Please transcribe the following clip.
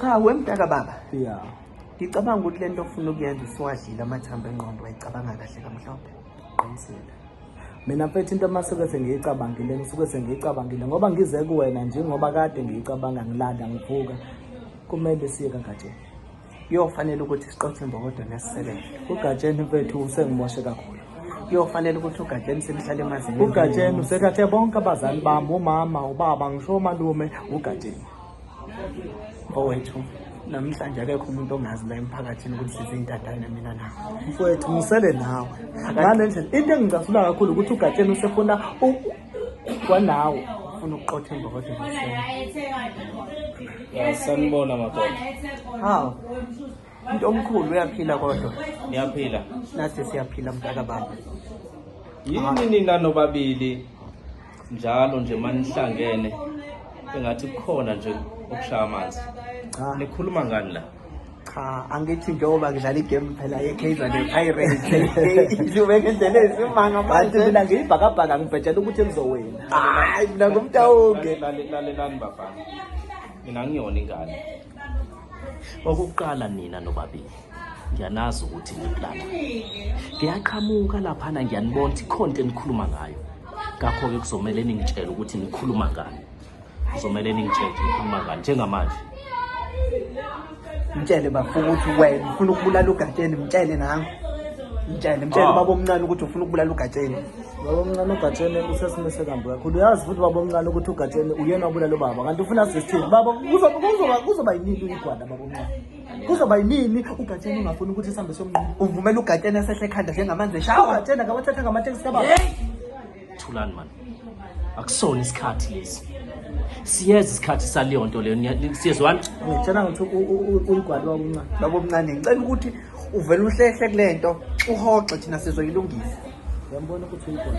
cha wemdaka baba ya ngicabanga ukuthi le nto ofuna ukuyenza usuwadlile amathambo engqondo wayicabanga kahle kamhlophe qinisile mina mfethu into masuke sengiyicabangile ngisuke sengiyicabangile ngoba ngize kuwena njengoba kade ngiyicabanga ngilanda ngivuka kumele siye kagatsheni kuyofanele ukuthi siqothe imbokodo nesisebele ugatsheni bethu usengimoshe kakhulu kuyofanele ukuthi ugatsheni simhlale emazinga ugatsheni usethathe bonke abazali bami umama ubaba ngisho omalume ugatsheni mfowethu namhlanje akekho umuntu ongazi la emphakathini ukuthi sizintatane mina nawe mfowethu ngisele nawe ngale ndlela into engicasula kakhulu ukuthi ugatsheni usefuna kwanawo ufuna ukuqotha emva kodwa sanibona madoda hawu umuntu omkhulu uyaphila kodwa niyaphila nathi siyaphila mntaka baba yini nina nobabili njalo nje manihlangene engathi kukhona nje okushaya amanzi nikhuluma ngani la cha angithi njengoba ngidlala igame phela ye-kaizer nepirateslubekendlela esimanga manti mina ngiyibhakabhaka ngibhetshela ukuthi elizowena hayi mina ngumtawonke lalelani bafana mina ngiyona ingane okokuqala nina nobabili ngiyanazi ukuthi ngiplana ngiyaqhamuka laphana ngiyanibona ukuthi ikhonto enikhuluma ngayo ngakho-ke kuzomele ningitshele ukuthi nikhuluma ngani kuzomele ningitshele ngikhuluma ngani njengamanje mtshele bafuna ukuthi wena ufuna ukubulala ugatsheni mtshele nango mtshele mtshele ah. baba omncane ukuthi ufuna ukubulala ugatsheni baba omncane ugatsheni usesimeni sekambi kakhulu uyazi futhi baba omncane ukuthi ugatsheni uyena obulala ubaba kanti ufuna sistini baba kuzoba yinini igwada baba omncane kuzoba yinini ugatsheni ungafuni ukuthi sihambe somnquma uvumela ugatsheni esehle ekhanda njengamanzi eshawa ugatsheni akawathatha ngamatekisi kababa thulani mani akusona isikhathi lesi siyeza isikhathi saleyo nto leyo siyezwani ngitshela ngokuthi ulugwalo wakuncane labo mncane ngicela ukuthi uvele uhlehle kule nto uhoxe thina sizoyilungisa uyambona ukuthi uyigwalo